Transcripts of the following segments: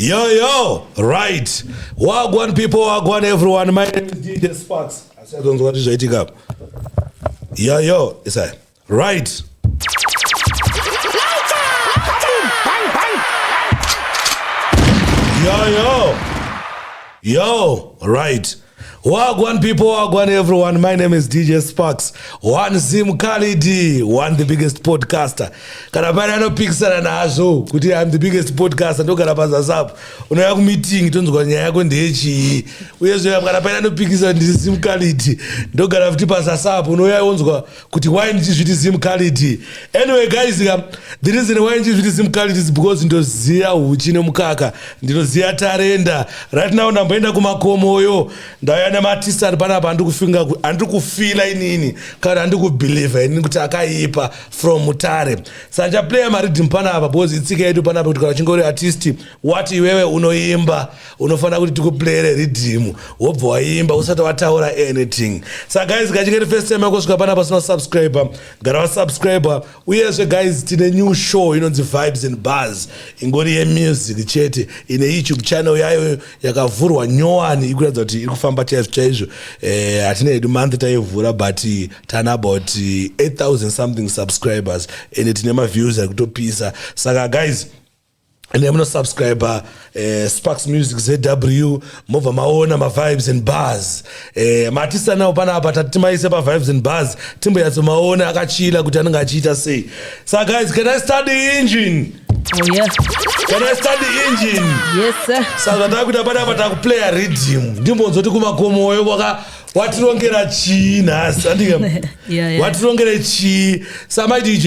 Yo, yo, right. Wagwan people, wagwan everyone. My name is DJ Sparks. Asi atonzwa kuti zvaitika. Yo, yo, isai. right yo yo yo right Wagwan people, Wagwan everyone. My name is DJ Sparks. One Zim Khalidi, one the biggest podcaster. Kana pale anopikisana nazvo kuti I'm the biggest podcaster ndogara pazazapo. Unouya kumeeting tonzwa nyaya yako ndeyechii. Uyezve kana pale anopikisa ndiri Zim Khalidi ndogara futi pazasapo. Unouya wonzwa kuti why ndichizviti zim cality anyway guys ka the reason why ndichizviti zim cality is because ndoziva huchi nemukaka ndinoziva tarenda right now ndamboenda kumakomoyo ndauya nematistan panapa andikufinga handiri kufila inini kana handiri kubelieva inini kuti akaipa from mutare sandichaplaya maridhim panapa because itsika yedu panapa kuti kana uchinge uri artisti Wati iwewe unoimba unofanira kuti tikuplayere riddim wobva waimba usati wataura anything sa guys kachingeti first time yako svika pana pasina subscriber gara vasubscriber uyezve guys tine new show inonzi vibes and bars ingori yemusic chete ine youtube channel yayo yakavhurwa nyowani ikuratidza kuti iri kufamba chaizvo chaizvo eh, hatina eh, hedu month taivhura but eh, tana about 8000 eh, something subscribers ende tine maviews ari kutopisa saka guys ende munosubscriber eh, sparks music zw mobva maona mavibes and bars eh, matisanawo panapa tati timaise pavibes and bars timboyatso maona akachila kuti anenge achiita sei sa guys can i start the engine oh, yeah. can i start the engine yes, sa zvatava kuita panapa takuplaya redim ndimbonzoti kumakomoyo kwaka watirongera chii nhasi andike yeah, yeah. watirongere chii samai dj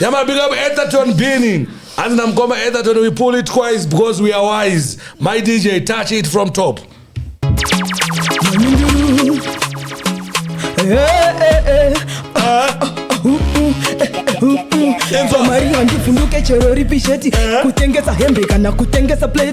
Yama big up Etherton Beanie. Hanzi namukoma Etherton we pull it twice because we are wise. My DJ touch it from top. Marina ndivhunduke chero ripi sheti kutengesa hembe kana kutengesa plate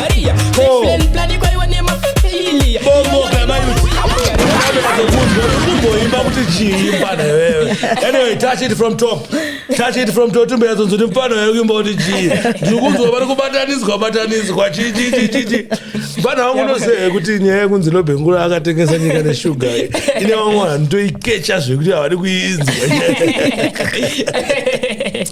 Maria Bo. Best friend plan kwaiwa nemafamilia bomoka mayuti kumboimba kuti chii mfana iwewe anyway touch it from top touch it from top timbe yatsonzo kuti mfana iwewe kuimba kuti chii ndiri kunzwa vari kubataniswa bataniswa chii chii chii chii chii mfana wangu ndoseve kuti nyaya yekunzi lobhengula akatengesa nyika neshuga ine vamwe vanhu toikecha zvekuti havadi kuinzwa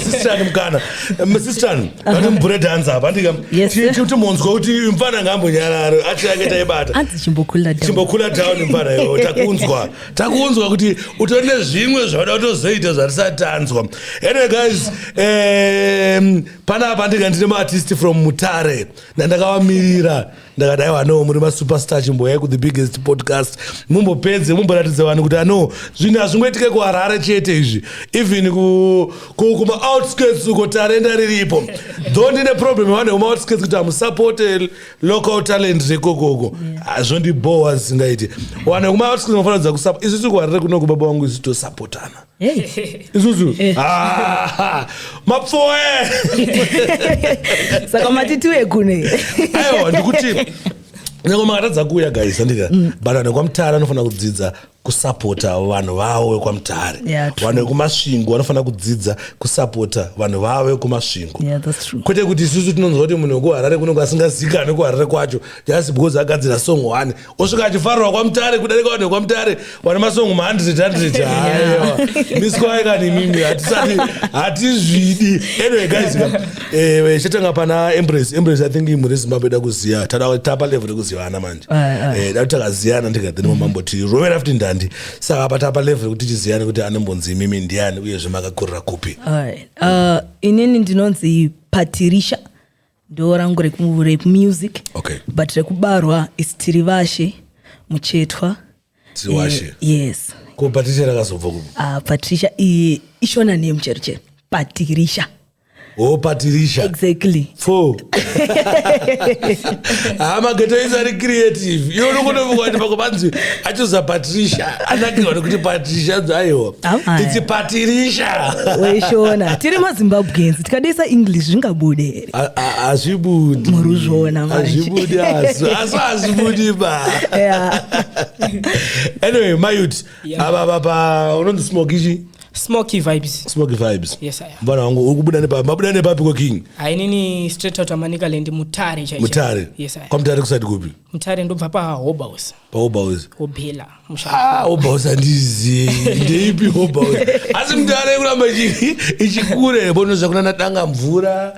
sistrani mukana sistrani vati mubhure dhanza apa ndikati munzwa kuti mfana ngambonyararo ati ange taibata chimbokhula down mfana yo takunzwa takunzwa kuti utori nezvimwe zvauda kutozoita zvatisati tanzwa anyway guys um, panapa ndinga ndine maartist from mutare ndandakavamirira ndakati aiwa no muri masuperstar chimboyai kuthe biggest podcast mumbopedze mumboratidza vanhu kuti ano zvinhu hazvingoitike kuharare chete izvi even kumaoutskirts uko tarenda riripo dho ndine problem vanhu vekumaoutskirts kuti hamusapote local talent rekokoko yeah. zvondibhowa zvisingaiti wane kumaatinofanira kusa isu tiri kuharire kuno kubaba wangu isu tosapotana isusu eh. ah, mapfoe saka mati tiwe kune aiwa ndikuti nyange makatadza kuuya guys andika mm. but anhu kwamutara anofanira kudzidza kusapota vanhu vavo vekwaMutare yeah, vanhu vekuMasvingo vanofanira kudzidza kusapota vanhu vavo vekuMasvingo yeah, kwete kuti isusu tinonzwa kuti munhu wekuHarare kunenge asingazikane kuHarare kwacho just because agadzira song one osvika achifarwa kwaMutare kudarika vanhu vekwaMutare vane masong mahundred hundred haiwa miswai kani imimi hatisati hatizvidi anyway guys eh, chatanga pana embrace embrace i think imhuri yezimbabwe ida kuziva tada tapa level rekuzivana manje Eh, dati takaziyana ndikati nemamamboti rovera futi ndandi saka apa tapa level yekuti tichiziyane kuti anembonzi imimi ndiani uyezve makakurira kupi Alright. Uh, inini ndinonzi patirisha ndo rangu reku- rekumusic Okay. but rekubarwa is tirivashe muchetwa Tiriwashe. Eh, yes ko patirisha rakazobva kupi uh, patricia i- ishona name chero chero patirisha Oh, Patricia. Exactly. Four. Ah, mageto is very creative. You look over what Pakobanzi. I choose a Patricia. I like you to Patricia. Ayo. It's a Patricia. Weshona. Tiri ma Zimbabweans. Tikadesa English zvingabude. Azvibudi. Muruzvona manje. Azvibudi asu. Asu azvibudi ba. Yeah. Anyway, my youth. Aba baba unonzi smoke ichi. smoky vibes smoky vibes yes aya mfana wangu ukubuda nepa mabuda nepa piko king ainini straight out amanika land mutare chaicho mutare yes aya kwa mutare kusati kupi mutare ndobva pa hoba house pa hoba house hobela ah hoba house andizi ndeipi hoba house asi mutare kuramba ichi ichikure bono zvakuna nadanga mvura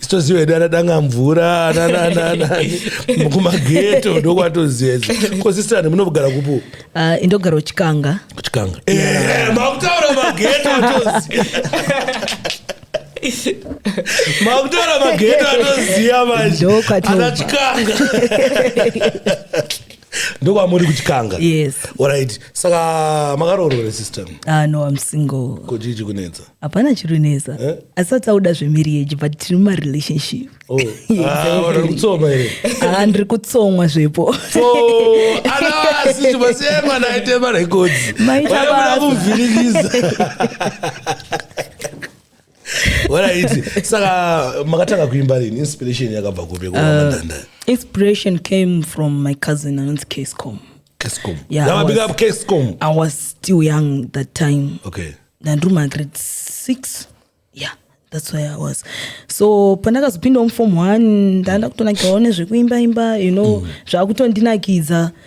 sitoziva hedu ana danga mvura anananani kumageto ndokwatoziva idzo ko sister ani munogara kupo Ah, indogara uchikanga kuchikanga Eh, makutaura mageto atoziva makutaura mageto atoziva manje Ndokwatobva. ana chikanga ndokwamuri kuchikanga yes orit saka makaroorwa here system ah, no am single ko chii chikunetsa hapana chiri kunetsa eh? asi atauda zvemarriage but tiri mumarelationship oh. ah, kutsoma here ah, ndiri kutsomwa zvepo anavasi chibasiyai mwana aite marekodzi maitaamuvhirikiza waraiti saka makatanga kuimba rini inspiration yakabva kupi kuamandanda uh, inspiration came from my cousin anonzi cascom cascom yeah, yeah, big up cascom i was still young that time okay ndandiri magrade six yeah that's where i was so pandakazopindawo muform one ndanda kutonakirwawo nezvekuimba imba you know mm. zvakutondinakidza mm.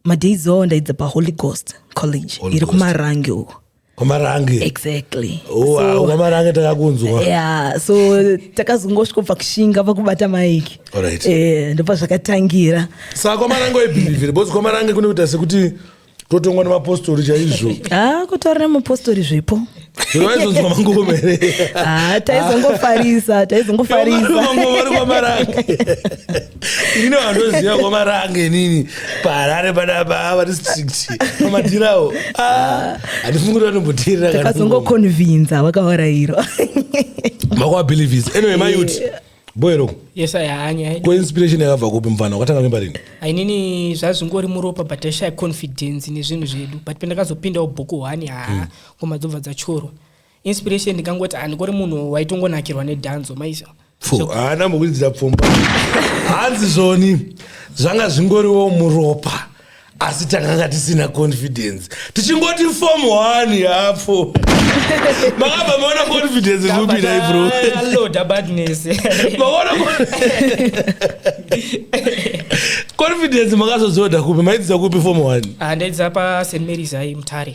madays awo ndaidza paholy ghost college Holy iri Ghost. kumarange uko kwamarange exactly Oh, ah, kwamarange takakunzwa yeah so takazongosvika kubva kushinga pakubata maiki Alright. eh, ndopa zvakatangira saka kwamarange waibhirivhira because kwamarange kunoita sekuti totongwa nemapostori chaizvo ah kutorina mupostori zvipo vaizonzwa mangoma here Ah, taizongofarisa taizongofarisa mangoma vari kwamarange ini vandoziva kwamarange inini paharare padapa vari strict pamadhirawo Ah, handifungi kuti vanomboteerera kana ngoma. takazongokonvinza vakavarairwa makuabelievers anyway mayuti boero yes i hanya ko inspiration yakabva kupi mfana wakatanga kuimba rini ainini zvazvingori muropa but aishaya confidence nezvinhu zvedu but pandakazopindawo bhuku one haa hmm. ngoma dzobva dzachorwa inspiration ndikangoti handikori munhu waitongonakirwa nedhanzo maizvo haana mukuridzira pfumba hanzi zvoni zvanga zvingoriwo muropa asi takanga tisina confidence tichingoti form one yapo makabva maona confidence zvopinai bro confidence makazozoda kupi maidzidza kupi form one ah, ndaidza past marys ai mutare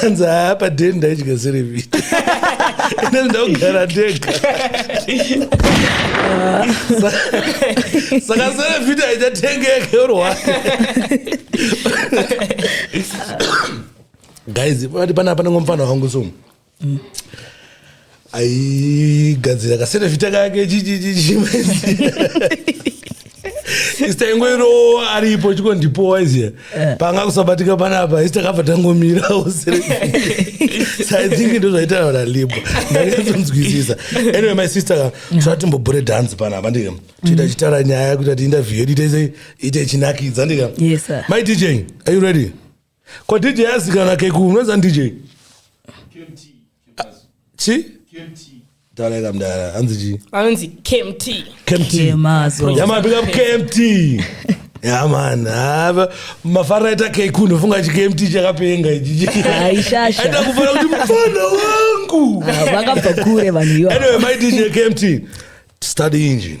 kanzi haa paden ndaidya serevita ine ndaugara ndega saka serevita aichatengeke urwake guys pati panapa nengomufana wangu somu aigadzira kaserevhita kake ista ingoiro aripo chikondipowa izia eh. panga kusabatika panapa ista kabva tangomira saithinki ndo zvaitana nalibwa ndakazonzwisisa anyway my sister tatimbobure dance panapa ndika tiita mm. chitara nyaya kuti ati interview yedu itaise ite chinakidza ndika my dj are you ready ko dj yazikana keku unoza dj chi taureka mdara hanzi chi anonzi kmt kmt yama big up kmt yaman hava mafana aita keku ndofunga chi kmt chakapenga ichiaita kufana kuti mufana wangu vakabva kure vanhu iyo anyway my dj kmt study engine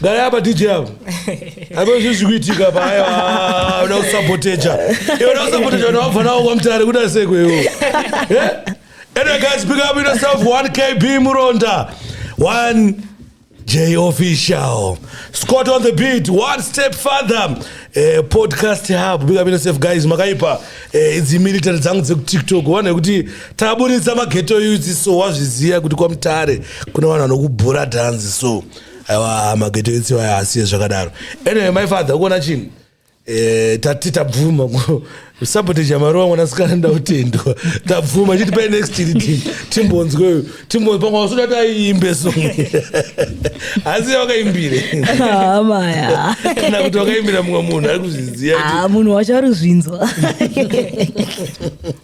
Gara hapa DJ hapa. Hapa sisi kuitika hapa haya ah, una usaboteja. Yeye una usaboteja na wafa nao kwa mtare kuda seko yeo. Eh? And I guys pick up yourself 1KB Muronda. 1 J official. Scott on the beat. One step further. Eh, podcast hub big up yourself guys makaipa eh, idzi military dzangu dzekutiktok wana yekuti taburitsa mageto yuzi so wazviziva kuti kwamutare kuna vanhu vanokubhura dhanzi so aiwa mageto etsi waya asiye zvakadaro anyway my father ukuona chinhu eh, tati tabvuma sabotage yamaruva mwanasikana ndautendwa tabvuma chiti pai next chiri timbonzweyo timbonzwe pamwe wasuda kuti aiimbe song asi wakaimbire amaya kana kuti wakaimbira mumwe munhu ari kuzviziva munhu wacho ari kuzvinzwa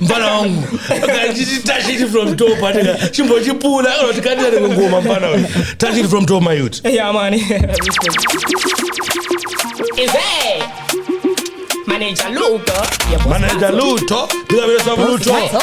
mfana wangu kachititashiti from top atika chimbochipula anoti kandira rimwe ngoma mfana uyu tashiti from top my youth Yeah, man. Is it? Manager Luca. Your boss manager Luto. luto ndikapesa luto Luto.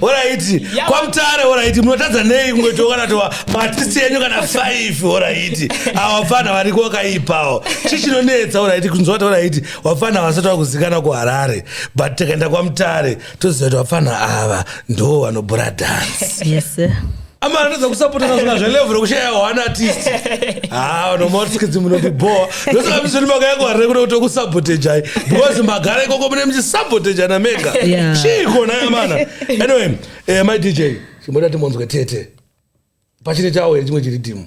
oraiti yeah. kwamutare oraiti munotadza nei kungoitokanatoa maatisi enyu kana 5 oraiti awafana variko wakaipawo chi chinonetsa oraiti kunzwa kuti oraiti wafana vasati vakuzikana kuharare but tikaenda kwamutare toziva kuti wafana ava ndo vanobhura dance yes, ama anatadza kusapotana zvona zvelevel rekushaya one artist ha nomaskidzi munotibhowa ndosakamizveni makayako harire kuda kuti kusabotejai because magara ikoko mune muchisabotejana mega chii kona yamana anyway eh, my dj chimboda timonzwe tete pachine chawo here chimwe chiri timu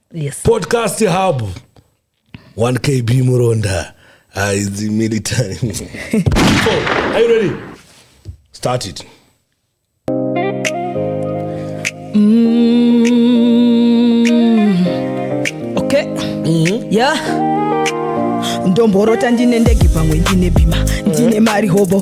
yes. podcast hub 1kb muronda Ah, it's the military. so, are you ready? Start it. Mm, okay. Mm-hmm. Yeah. ndomborota ndine ndege pamwe ndine bhima ndine mari hobo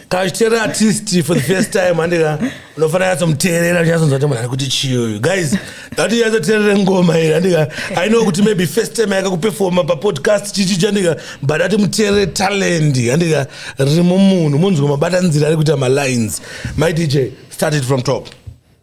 kachitera artist for the first time handika unofanira yatsomuteerera uchatsonzwa kuti munhu ari kuti chii uyu guys ndati yatsoteerere ngoma iri handika i know kuti maybe first time yakakupefoma papodcast chichi chandika but ati muteerere talent handika riri mumunhu munzwa mabatanzira ari kuita malines my dj started from top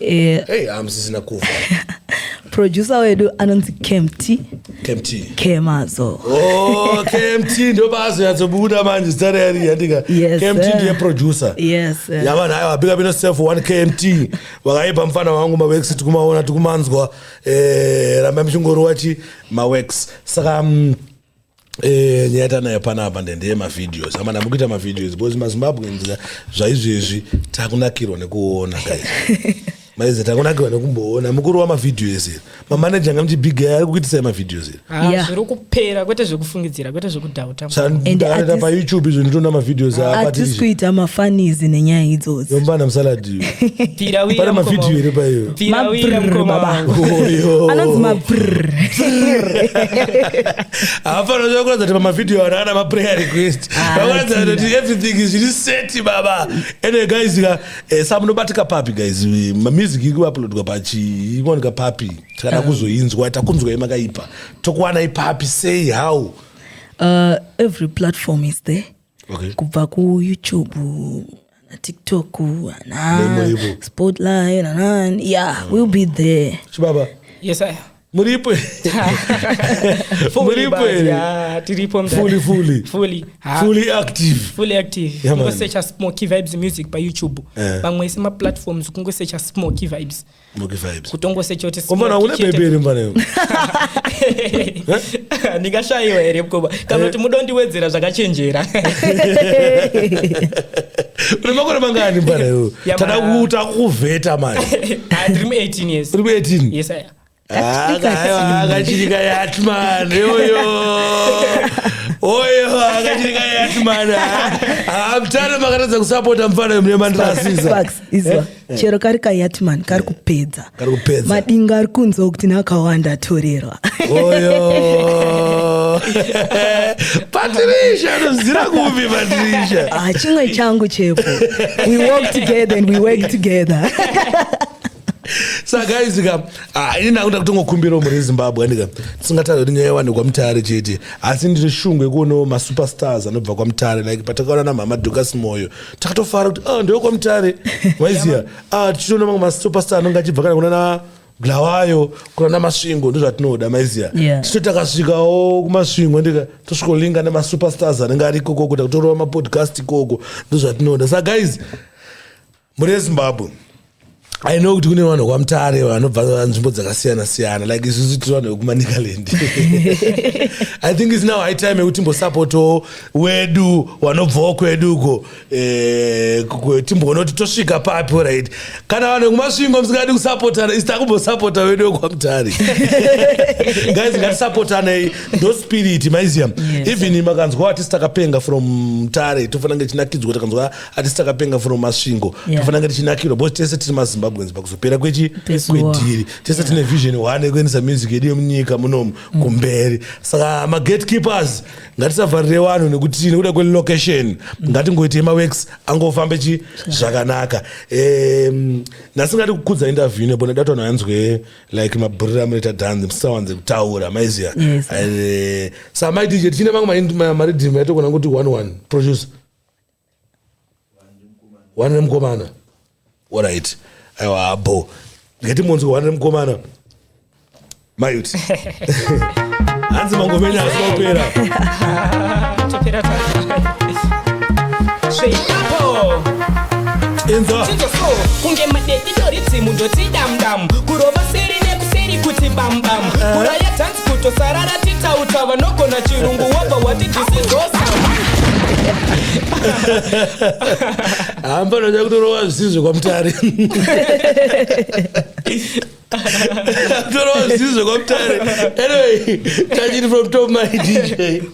Eh, hey hamusisina kufa producer wedu anonzi kemty kemty kemazo oh kemty ndo bazo yatsobuda manje zita reyari yandika Yes, kemty sir. ndiye producer yes eh. yavana hayo abika bino self 1 kmt vakaipa mfana wangu mawex tikumaona tikumanzwa eh, ramba mchingori wachi mawex saka mm, Eh, nyaya yatanayo panapa ndendeye mavideos amana mukuita mavideos because mazimbabweans zvaizvezvi takunakirwa nekuona guys maize takunakirwa nekumboona mukuru wamavideos iri mamaneja anga muchibig ari kuitisai mavideos iri ah, Yeah. zviri kupera kwete zvekufungidzira kwete zvekudhauta And at this- payoutube izvo nditoona mavideos aa atisi patirishi kuita mafanizi nenyaya idzodzo yombana musaladi Pirawira pane mukoma mavhidhiyo wangu. here paiyo Pirawira Mabrr, mukoma baba. wangu. Oyo. anonzi mabrr hapana zvakuratidza kuti pamavhidhiyo ano ana maprayer request Ah, vakuratidza anotinda. kuti everything is zviri seti baba anyway guys ka eh, sa munobatika papi guys Eh, mamusic iri kuuploadwa pachi ikuwanika papi tikada kuzoinzwa takunzwai makaipa tokuwanai papi sei how Uh, every platform is there okay. kubva kuyoutube tiktok spotlight nanani yeah mm. we'll be there chibaba yes I muripo muripo tiripo fully fully fully fully active fully active yeah, kungosecha smoky vibes music payoutube eh. pamwe yeah. isema platforms kungosecha smoky vibes Muki vibes. kutongosechoti Komana une bebe iri mvana iwe. ndingashayiwa here mukoma kana kuti mudondiwedzera zvakachenjera Une makore mangani mvana iwe. Ya, Tada ma- kuuta kuvheta manje. Ah, ndiri mu 18 years Uri 18. yes aya Ah, kaiwa, akachirika yatman yoyo oyo akachirika yatman amtano makatadza kusapota mfana yomune mandirasisa Facts, izwa. Eh. chero kari kayatman kari eh. kupedza madinga ari kunzwa kuti nakawanda atorerwa patirisha anozira kupi patirisha ah, chimwe changu chepo we work together and we work together saka izika ah, ini ndakuda kutongokumbirawo muri zimbabwe andika tisingatadza kuti nyaya yawane kwamutare chete asi ndiri shungu yekuonawo masuperstars anobva kwamutare like patakaona namhama dukas moyo takatofara kuti ah, ndewe kwamutare maiziva ah, tichitoona mamwe masitopasta anonge achibva kana kunana glawayo kunana masvingo ndozvatinoda maiziva yeah. tichito takasvikawo kumasvingo ndika tosvikolinga nemasuperstars anenge ari ikokoko takutorova mapodcast ikoko ndozvatinoda sa guys muri ezimbabwe i know kuti kune vanhu kwamutare vanobva nzvimbo dzakasiyana siyana like isusu tiri vanhu vekumanicaland i think is now high time yekuti timbosapotawo wedu wanobvawo kwedu uko eh, timboona kuti tosvika papi right kana vanhu vekumasvingo musingadi kusapotana isi takumbosapota wedu wekwamutare guys ngatisapotanei ndo spirit maiziya even makanzwa atisi takapenga from mutare tofanira ngechinakidzwa kuti kanzwa hatisi takapenga from masvingo yeah. tofananga tichinakirwa because tese tiri mazimbabweans pakuzopera kwechi kwedhiri tese tine yeah. vision one yekuendesa music yedu yemunyika munomu mm. kumberi saka magatekeepers ngatisavharire vanhu nekuti nekuda kwelocation mm. ngatingoitei maworks angofambe chi zvakanaka um, nhasi ngati kukudza interview nepo nedato vanhu vanzwe like maburira munoita dance musawanze kutaura maiziva yes. uh, eh, samaitije tichine mamwe maridhim yaitokona kuti one one producer one remukomana orit aiwa habo ngeti monzwi one remukomana mayut hanzi mangomenya asi maupera enza kunge madedidoridzimu ndotidamdamu kurova seri nekuseri kuti bambam eh. kuraya tanzi kutosarara titauta vanogona chirungu wobva wati dhisizosa hamba ndoda kutorova zvisizvo kwamutare kutorova zvisizvo kwamutare anyway tachiti from top my dj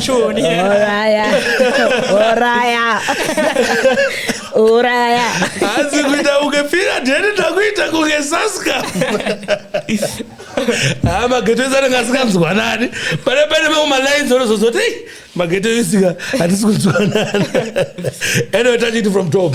choni uraya uraya uraya hanzi kuita kunge pira dheni takuita kunge saska haa mageto ese anenge asikanzwanani pane pane mamwe malines anozozoti ei mageto isika hatisi kunzwanana anyway tachiti from top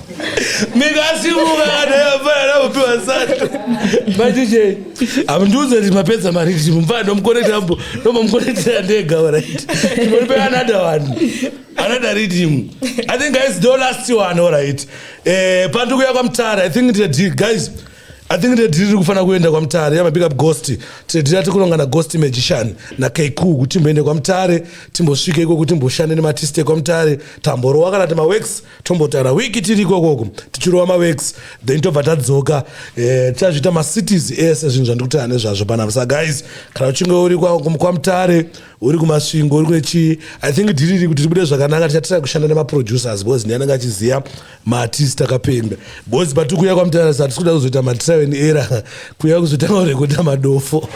mikasimuka kana yafana nakupiwa sato machije amundiudza kuti mapedza mari kuti mumfana ndomukonekta ambo ndomamukonektira ndega orit imonipe another one another reading i think guys do last one orit eh, pandi kuya kwamutara i think tiri guys i think tiri tiri kufana kuenda kwamutare yamabig up ghost tiri tiri atikunonga na ghost magician na keku kuti timboende kwamutare timbosvike iko kuti timboshande nematiste kwamutare tamborowa kana timaworks tombotaura wiki tiri ikokoko tichirova mawex then tobva tadzoka eh, tichazviita eh, macities ese zvinhu zvandikutaura nezvazvo panapa sa guys kana uchinge uri kwamutare uri kumasvingo uri kune chii i think dhiriri kuti tibude zvakanaka tichatira kushanda nemaproducers bcause ndiye anenge achiziva maartist akapembe bcause pati kuuya kwamutare sa tisikuda kuzoita matraven era kuuya kuzotanga kurekota madofo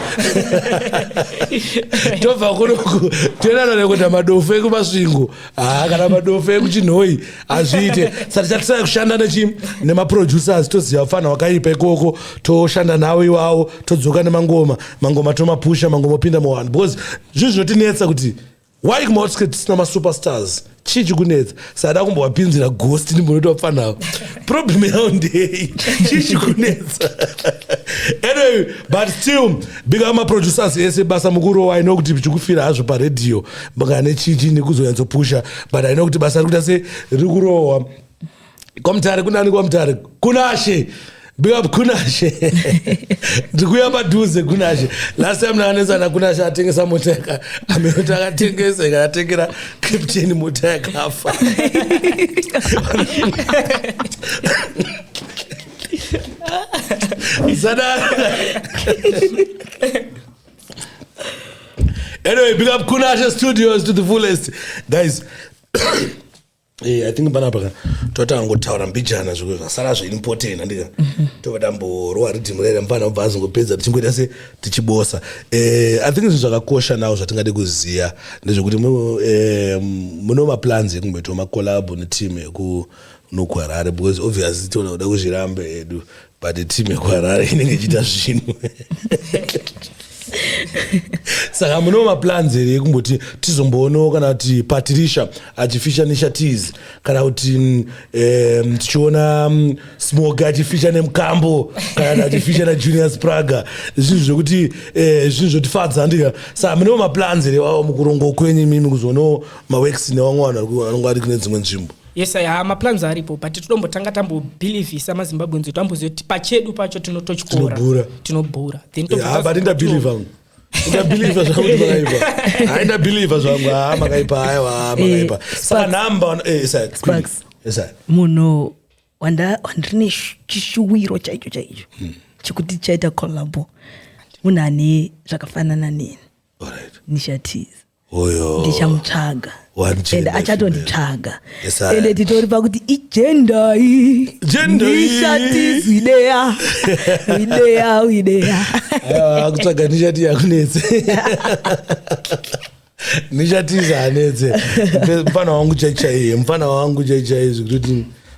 tobva kunoku toenda norekuta madofo ekumasvingo haa kana madofe ekuchinhoi hazviite sati chatisai kushanda nechi nemaproducers toziva fana wakaipa ikoko toshanda nawo iwawo todzoka nemangoma mangoma tomapusha mangoma opinda muwanhu because zvinhu zvinotinetsa kuti why kumaotsket tisina masuperstars chii chikunetsa sada kumbovapinzira ghost ndimbonoita vapfanavo problem yavo ndei chii chikunetsa anyway but still big up maproducers ese basa mukuru waino kuti chikufira hazvo paredhiyo banga nechichi nekuzonyatsopusha but aina kuti basa rikuita se riri kurohwa kwamutare kunani kwamutare kunashe bigap kunashe ndikuya padhuze kunashe last time naanetsana kunashe atengesa mota yaka ameoti akatengesa ikatengera captain mota yakafa sadara anyway big up kunashe studios to the fullest guys Eh, i think panapa ka totanga ngotaura mbijana zviko zvasara zveimpotain handika mhm. tova tamborwa ridhimu rere mfana obva azongopedza tichingoita se tichibosa eh, i think zvinhu zvakakosha nawo zvatingade kuziva ndezvekuti eh, muno maplans ekumboitawo macolabo neteam yeku nokuharare because obviously tinoda kuzvirambe edu but team yekuharare inenge ichiita zvinhu saka munewo maplans here ekumboti tizomboonawo kana kuti patirisha achifisha neshatiz kana kuti mm, tichiona mm, smoke achifisha nemukambo kana achifisha najunior spraga zvinhu zvekuti eh, zvinhu zvotifadza ndika saka munewo maplans here wawo mukurongo kwenyu imimi kuzoonawo maworks nevamwe vanhu vanongo ari kune dzimwe nzvimbo yes aya maplans aripo but tinombotanga tambobhilivhisa mazimbabweans kuti amboziva kuti pachedu pacho tinototyora tinobhura thenbut ndabhilivha ndabhilivha zvangu kuti makaipa hai ndabhilivha zvangu haa ah, makaipa haiwa ah, eh, makaipa saka nhamba eh, munhu wandiri nechishuwiro chaicho chaicho hmm. chekuti chaita collabo munhu ane zvakafanana neni nishatiza Oyo. ndichamutsvaga One gender and female. achatonditsvaga Yes, I- ende titori pakuti igendai Gender iyi. ndishatizi ideya ideya ideya Aiwa, akutsvaga nishati yakunetse nishatiza hanetse mfana wangu chaichaiye mfana wangu chaichaiye zvekuti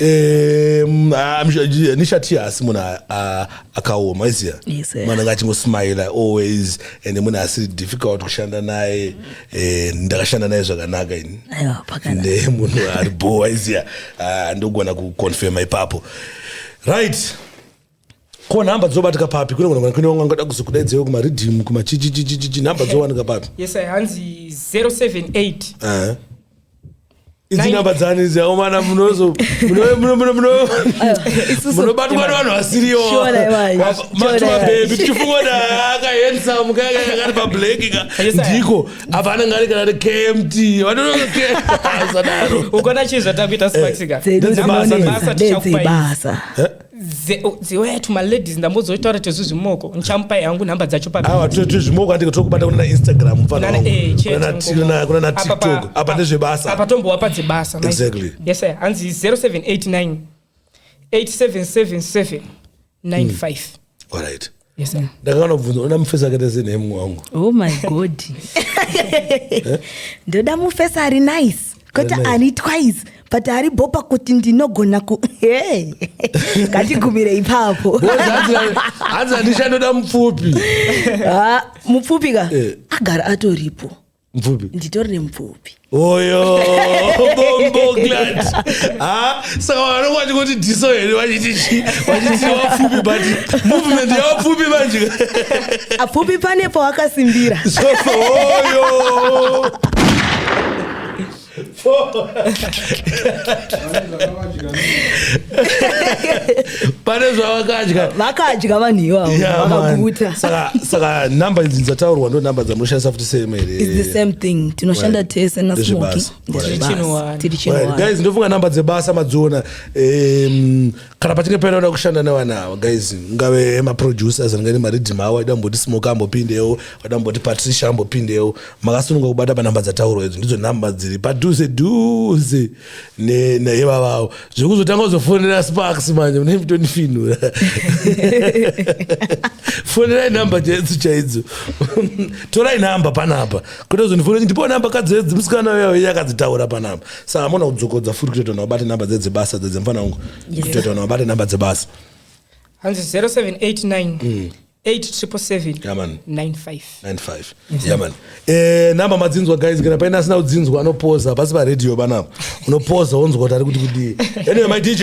Um, ah, I'm sure- yeah, nishatia asi munhu a- a- akaoma aiziya Yes, eh. mwana anga achingosmile always and munhu asiri difficult kushanda naye Eh, ndakashanda naye zvakanaka ini Aiwa, pakana. ne munhu ari bho aiziya Ah, ndogona kuconfirma ipapo right ko nhamba dzobatika papi kune vanhu vanakwene vangu vangada kuzokudaidzaiwo kumaridhimu kumachichichichichi nhamba dzowanika papi yes i hanzi 078 idzi nhamba dzani idzi aomana munozo munobatwa nevanhu vasiriyo matumabebi tichifunga kuti akahensamu kaga kakati pablaki ka ndiko apa anenge ari kana kmt vanonosadaro ukona chii zvatakuita sparksika eh, dzebasa tichakupaisa dziwaya to maladies ndambozoitaura tezvi zvimoko ndichamupai hangu nhamba dzacho paawa tezvi zvimoko andike tokubata kunana instagram mfanana eh, tiktok apa ndezvebasa apa tombowa padzebasa exactly yes sir hanzi 0789 8777 95 mm. all right Yes, sir. ndakakana kubvunza ona mufesi akaita sei nehemu wangu oh my god ndoda mufesa ari nice kwete Ari nice. ari twice but ari bopa kuti ndinogona ku Hey. ngatigumire ipapo Boys, hanzi- hanzi handishandoda mupfupi Ah, mupfupi ka Eh. agara atoripo mupfupi nditori nemupfupi oyo bomboglat ah, saka vanonge vachingoti diso here vachiti vachiti wapfupi but movement yawapfupi manje apfupi pane pawakasimbira oyo pane zvavakadya vakadya vanhu ivavo Yeah, man. vakaguta Saka- saka number idzi dzataurwa ndo number dzamunoshandisa futi same It's the here same thing tinoshanda Right. tese na Ndezve smoking basa. Ndezve Right. basa. Chinowani. tiri Right, chinowani guys ndofunga number dzebasa madziona Em, kana pachinge paine vanoda kushanda nevana ava guys ngave maproducers anenge nemariddim avo aida kumboti smoke ambopindewo aida kumboti patricia ambopindewo makasununga kubata panhamba dzataurwa idzo ndidzo nhamba dziri padhuze dhuze nevavavo zvekuzotanga kuzofonera sparks manje mune mutonifinura fonerai nhamba chaidzo chaidzo torai nhamba panapa kuti zonifonera ndipo nhamba kadzi edzi musikana uya uya akadzitaura panapa sa hamuna kudzokodza futi kutoita vanhu vabate nhamba dzedzebasa dzedzemfana wangu Yes. kutoita vanhu vabate nhamba dzebasa hanzi 0789 877 Yeah, man. 95 95 yeah man eh namba madzinzwa guys kana paina asina kudzinzwa anopoza pasi pa radio banapa unopoza wonzwa kuti ari kuti kudii anyway my dj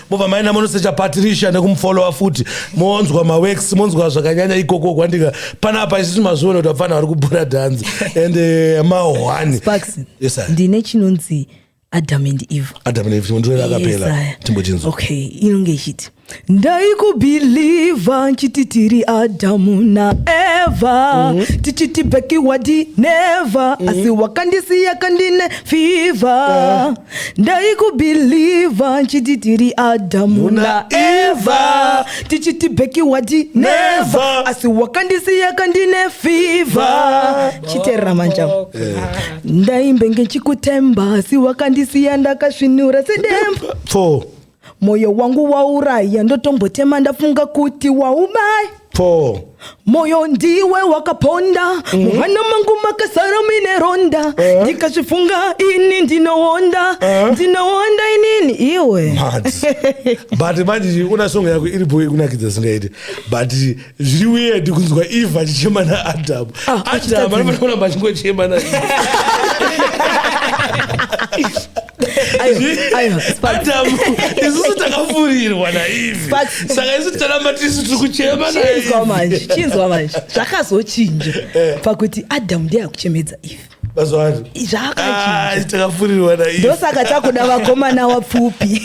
mobva maenda monosecha patricia nekumufolowa futi monzwa mawex monzwa zvakanyanya ikoko kwandika panapa isisi mazviona kuti vapfana vari kubhura dhanzi and eh, mahwani ndine chinonzi adam and eve adam and eve chimondorera akapera timbochinzwa okay inonge ichiti ndaikubhilivha nchiti tiri adhamu naevha mm. tichiti bhekiwadi nevha mm. asi wakandisiya kandine fivha uh. ndaikubhilivha nchiti tiri adhamu naevha tichiti bheki wati nevha asi wakandisiya kandine fivha chiterera manja ndaimbenge nchikutemba asi wakandisiya ndakasvinura sedemba four moyo wangu wauraya ndotombotema ndafunga kuti waubai po moyo ndiwe wakaponda mm. muhana mangu makasara mine ronda eh? ndikazvifunga uh. ini ndinoonda uh. Eh? ndinoonda inini iwe but manje una songo yako iri boe kunakidza singaiti but zviri weird kunzwa eve achichema naadam ah, adam anofanira kuramba achingochema na adamu isusu takafurirwa naivi saka isu ticharamba tisu tiri kuchema chinzwa manje chinzwa manje zvakazochinja eh. pakuti adamu ndiye akuchemedza ivi zvakachinjatakafurirwa ah, naivi ndosaka takuda vakomana wapfupi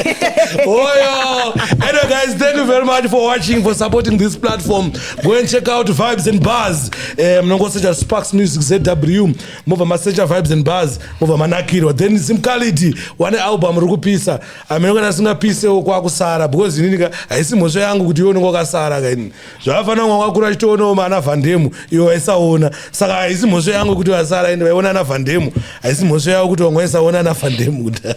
oyo anyway guys thank you very much for watching for supporting this platform go and check out vibes and bars eh, mnongosecha sparks music zw mobva masecha vibes and bars mobva manakirwa then simcality wane album ri kupisa amene kana asingapisewo kwakusara because inini ka haisi mhosva yangu kuti iwe unenge wakasara ka inini zvakafanira kunge wakakura achitoonawo maana vandemu iwe waisaona saka haisi mhosva yangu kuti vasara ini vaiona ana vandemu haisi mhosva yavo kuti vanga vaisaona ana vandemu kuda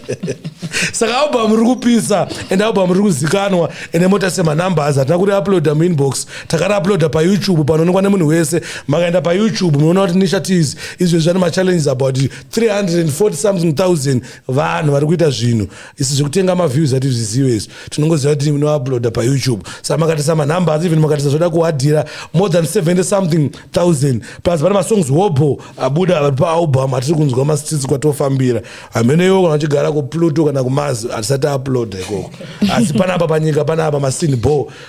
saka album ri kupisa and album ri kuzikanwa ende mota semanumbers hatina kuri uploada muinbox takariuploada payoutube panoonekwa nemunhu wese makaenda payoutube munoona kuti nisha tis izvezvi vane machallenges about 340 something thousand vanhu vari kuita zvinhu isi zvekutenga maviews ati zvizive izvi tinongoziva kuti munouploada payoutube sa makatisa manumber asi even makatisa zvoda kuhadhira more than 70 something thousand plus pane masongs wobo abuda vari paalbum atiri kunzwa masitisi kwatofambira hamene iwo kana vachigara kupluto kana kumazi hatisati uploada ikoko asi panapa panyika panapa masini bo